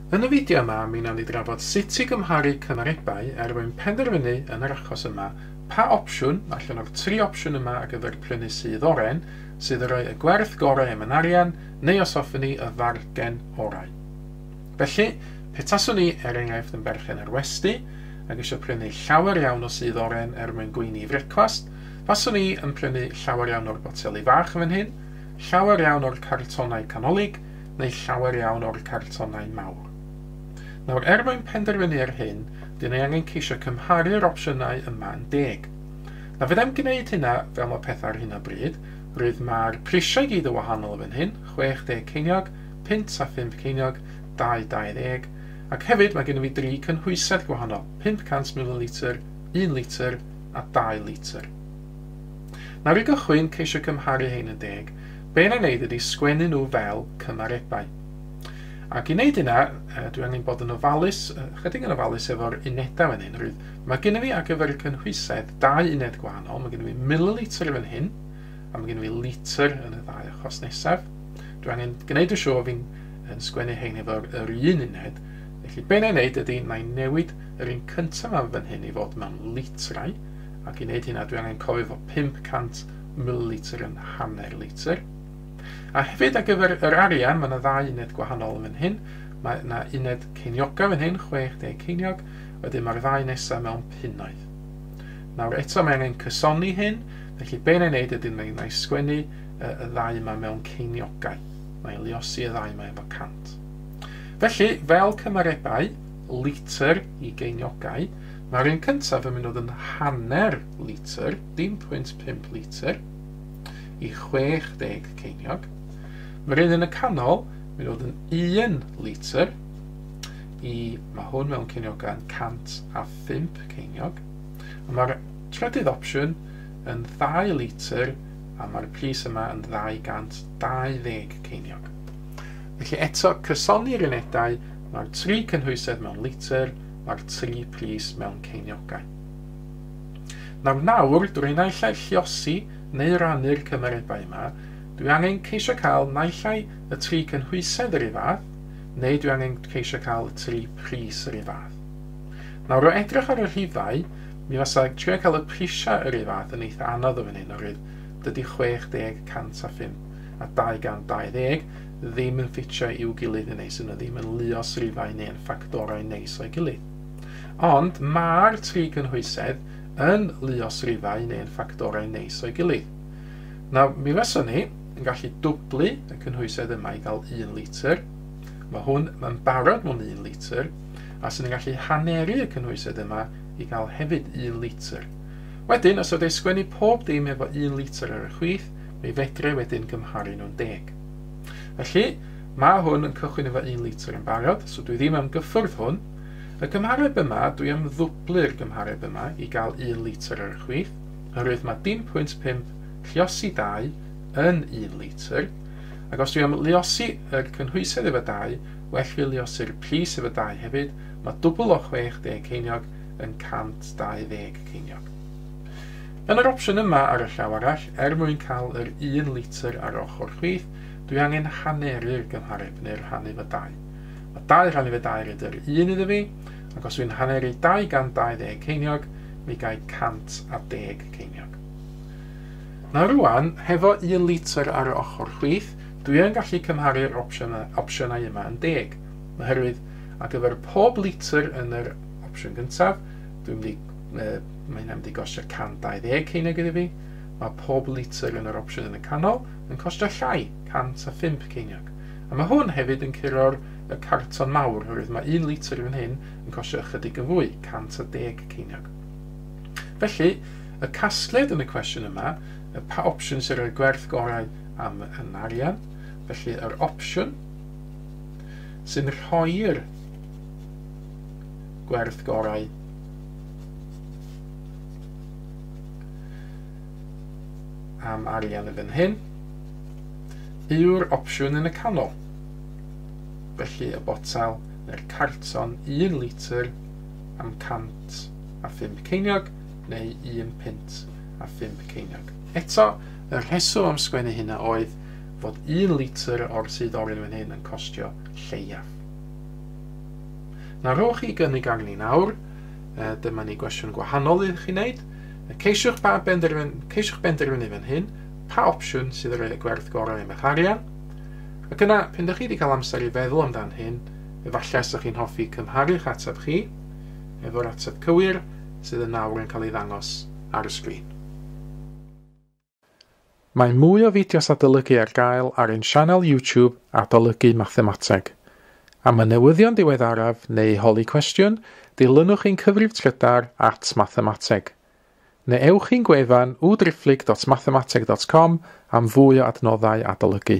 Yn y fideo yma, mi wnawn ni drafod sut i gymharu cymarebau er mwyn penderfynu yn yr achos yma pa opsiwn allan o'r tri opsiwn yma ar gyfer prynu sudd oren sydd yn rhoi y gwerth gorau am yn arian neu os hoffwn ni y fargen orau. Felly, petaswn i er enghraifft yn berchen ar westy ac eisiau prynu llawer iawn o sudd oren er mwyn gweini i frecwast, faswn i yn prynu llawer iawn o'r boteli fach fan hyn, llawer iawn o'r cartonau canolig neu llawer iawn o'r cartonau mawr. Nawr, er mwyn penderfynu ar hyn, dyn ni angen ceisio cymharu'r opsiynau yma'n deg. Na fyddai'm gwneud hynna fel mae pethau ar hyn o bryd, rwydd mae'r prisiau gyd yn wahanol fan hyn, 60 ceiniog, punt a phump ceiniog, dau 20, ac hefyd mae gennym fi dri cynhwysedd gwahanol, 500 mililitr, un litr a dau litr. Nawr i gychwyn, ceisio cymharu rhein yn deg, be na wneud ydi sgwennu nhw fel cymarebau. Ac i wneud hynna, dwi angen bod yn ofalus, ychydig yn ofalus efo'r unedau fan hyn. Rwydd, mae gennym fi ar gyfer y cynhwysedd dau uned gwahanol, mae gennym fi mililitr fan hyn, a mae gennym fi litr yn y ddau achos nesaf. Dwi angen gwneud y siŵr fi'n yn sgwennu hein efo'r yr un uned, felly be na wneud ydy, na i newid yr un cyntaf am fan hyn i fod mewn litrau, ac i wneud hynna dwi angen cofio fod 500 mililitr yn hanner litr. A hefyd ar gyfer yr arian, mae yna ddau uned gwahanol yn fan hyn. Mae yna uned ceiniogau fan hyn, 60 ceiniog, wedyn mae'r ddau nesaf mewn punnoedd. Nawr eto mae angen cysoni hyn, felly be na i wneud ydy na i sgwennu y ddau yma mewn ceiniogau. Na i liosi y ddau yma efo 100. Felly, fel cymarebau, litr i geiniogau, Mae'r un cyntaf yn mynd o ddyn hanner litr, 0.5 litr, i 60 ceiniog. Mae'r un yn y canol yn mynd o ddyn 1 litr i, mae hwn mewn ceiniogau'n 105 ceiniog. A mae'r trydydd opsiwn yn 2 litr a mae'r pris yma yn 220 ceiniog. Felly eto, cysoni'r unedau, mae'r tri cynhwysedd mewn litr, mae'r tri pris mewn ceiniogau. Nawr, nawr, drwy naill ai lliosi neu rannu'r cymarebau yma, dwi angen ceisio cael naill ai y tri cynhwysedd yr un fath, neu dwi angen ceisio cael y tri pris yr un fath. Nawr, o edrych ar y rhifau, mi fasa trio cael y prisiau yr un fath yn eitha anodd o fan hyn, oherwydd dydy 60, 105 a 220 ddim yn ffitio i'w gilydd yn neis, yn nhw ddim yn luos rifau neu yn ffactorau neis o'i gilydd. Ond mae'r tri gynhwysedd yn luos rifau neu yn ffactorau neis o'i gilydd. Nawr, mi fysa ni yn gallu dwblu y cynhwysedd yma i gael un litr. Mae hwn yn barod mewn un litr, a sy'n ni'n gallu haneru y cynhwysedd yma i gael hefyd un litr. Wedyn, os ydw i sgwennu pob dim efo un litr ar y chwith, mi fedre wedyn gymharu nhw'n deg. Felly, mae hwn yn cychwyn efo un litr yn barod, so dwi ddim am gyffwrdd hwn. Y gymhareb yma, dwi am ddwblu'r gymhareb yma i gael un litr ar y chwith, oherwydd mae dim pwynt pump lliosi dau yn un litr, ac os dwi am liosi yr cynhwysedd efo dau, well fi liosi'r pris efo dau hefyd, mae dwbl o 60 ceiniog yn 120 ceiniog. Yn yr opsiwn yma ar y llaw arall, er mwyn cael yr un litr ar ochr chwith, dwi angen haneru'r gymhareb, neu rhannu fy dau. Mae dau rhannu fy dair yn yr un iddo fi, ac os dwi'n haneru 220 ceiniog, mi gai 110 ceiniog. Nawr rwan, hefo un litr ar y ochr chwith, dwi yn gallu cymharu'r opsiynau yma yn deg, oherwydd ar gyfer pob litr yn yr opsiwn gyntaf, dwi'n mynd i Yy, mae hynna'n mynd i gostio 120 ceiniog iddi fi. Mae pob litr yn yr opsiwn yn y canol yn costio llai, 105 ceiniog. A mae hwn hefyd yn curo'r y carton mawr, oherwydd mae un litr yn hyn yn costio ychydig yn fwy, 110 ceiniog. Felly, y casgliad yn y cwestiwn yma, y pa opsiwn sy'n rhoi'r gwerth gorau am yn arian, felly yr opsiwn sy'n rhoi'r gwerth gorau am arian yn fan hyn yw'r opsiwn yn y canol. Felly y botel neu'r carton 1 litr am 105 ceiniog neu 1 pint a 5 ceiniog. Eto, y rheswm am sgwennu hynna oedd fod 1 litr o'r sydd orin fan hyn yn costio lleiaf. Na rhowch i gynnig arni ni nawr. Uh, dyma ni gwestiwn gwahanol i chi wneud. Ceisiwch, pa benderfyn, ceisiwch benderfynu fan hyn pa opsiwn sydd yr ei gwerth gorau am eich arian. Ac yna, pan ydych chi wedi cael amser i feddwl amdan hyn, efallai ysych chi'n hoffi cymharu'ch ateb chi efo'r ateb cywir sydd yn nawr yn cael ei ddangos ar y sgrin. Mae mwy o fideos adolygu ar gael ar ein sianel YouTube Adolygu Mathemateg. Am y newyddion diweddaraf neu holi cwestiwn, dilynwch ein cyfrif trydar at Mathemateg. Neu ewch i'n gwefan www.driphlyg.mathemateg.com am fwy o adnoddau adolygu.